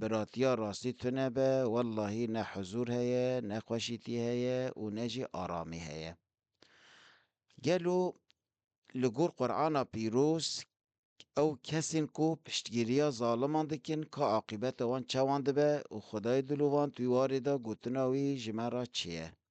Biratiya rastî tune be, wellahî ne huzûr heye, ne xweşîtî heye û ne jî aramî heye. Gelo li gor Qur'ana pîroz ew kesên ku piştgîriya zaliman dikin ka aqîbeta wan çawan dibe û Xwedayê dilovan tu wî warê da gotina wî ji me re çi ye?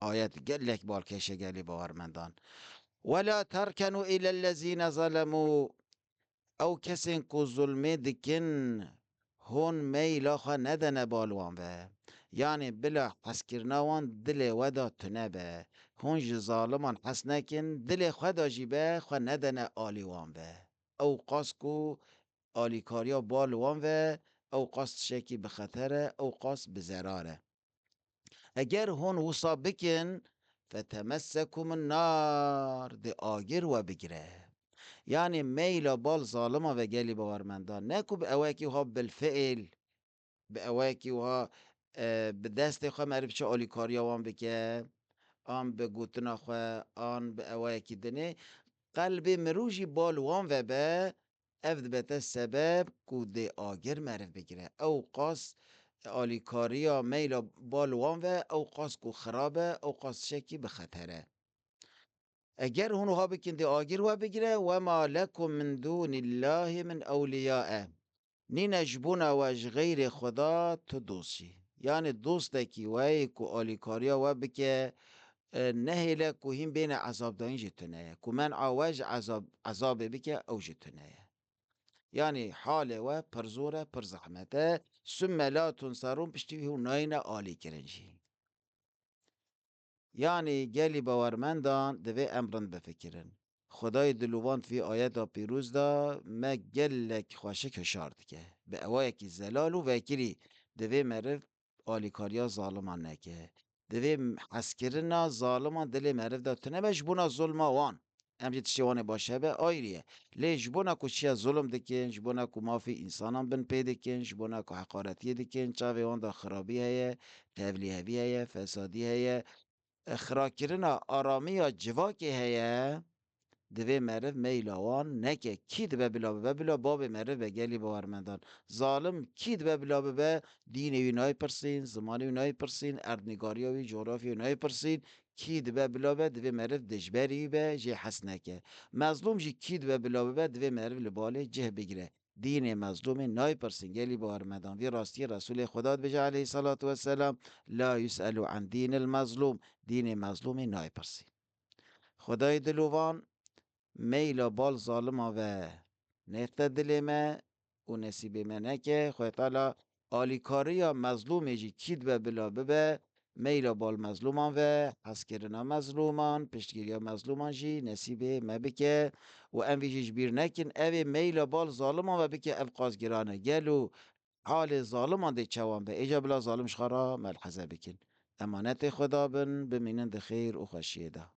Ayet gelek balkêşe gelê bawermendan. Wela terkenu ilellezîne zelemû ew kesên ku zulmê dikin hûn meyla xwe nedene bal wan ve. Yanê bila hezkirina wan dilê we de tune be. Hûn ji zaliman hez nekin, dilê xwe de jî be xwe nedene alî wan ve. Ew qas ku alîkariya bal wan ve, ew qas tişekî bi xeter e, ew qas bi zerar e. Eger hûn wisa bikin, fetemesekum en-nar, dê agir we bigire. Yanî meyla bal zalima ve gelî bawermendan ne ku bi ewekî wiha bilfiil, bi ewekî wiha bi destê xwe merê biçe alîkariya wan bike, an bi gotina xwe, an bi ewekî dinê, qelbê mirov jî bal wan ve be, Ev dibete sebeb ku dê agir meriv bigire. Ew qas alîkariya meyla ba li wan ve, ew qas ku xirab e, ew qas tişekî bi xeter e. Eger hûn wiha bikin dê agir we bigire, wema lekum min dûnî llahî min ewlîya e. Nîne ji bona we ji xeyrê Xweda tu dost jî. Yanî dostekî weyî ku alîkariya we bike Nehêle ku hîn bêne ezabdayîn ji tune ye. Ku men'a we ji ezabê bike ew ji tune ye. Yanî halê we pir zor e, pir zehmet e. Summe Laton Saron piştî wî hûn nayêne alîkirin jî. Yanî gelî bawermendan divê em rind bifikirin. Xwedayê dilûvand vî ayeta pîroz de me gelek xweşik hişar dike. Bi ewayekî zelal û vekirî divê meriv alîkariya zaliman neke. Divê hezkirina zaliman dilê meriv de tunebe ji bona zulma wan. Em jî tiştê wan ê baş hebe ayrî ye. Lê ji bona ku çiya zulm dikin, ji bona ku mafê însanan bin pê dikin, ji bona ku heqaretiyê dikin, çavê wan de xirabî heye, tevlîhevî heye, fesadî heye, xirakirina aramiya civakê heye, divê meriv meyla wan neke. Kî dibe bila bibe? Bila bavê meriv be gelî bawermendan. Zalim kî dibe bila bibe? Dînê wî nayê pirsîn, zimanê wî nayê pirsîn, erdnîgariya wî, cografya wî nayê pirsîn. Kî dibe bila bibe? Divê meriv dijberî be, jê hes neke. Mezlûm jî kî dibe bila bibe? Divê meriv li balê cih bigire. Dînê mezlûmê nayê pirsin gelî bi armedan vî rastiyê Resûlê Xweda dibêje aleyhî salatu weselam, La yus'elû an dînil mezlûm, dînê mezlûmê nayê pirsîn. Xwedayê dilovan, meyla bal zaliman ve nêxte dilê me û nesîbê me neke, Xwedayê Teala Alîkariya mezlûmê jî kî dibe bila bibe, meyla bal mezlûman ve, hezkirina mezlûman, piştgiriya mezlûman jî nesîbê me bike û em vî jî ji bîr nekin. Ev ê meyla bal zaliman ve bike ev qas giran e. Gelo halê zaliman dê çewan be? Êca bila zalim ji xwe re melheze bikin. Emanetê Xweda bin, bimînin di xêr û xweşiyê de.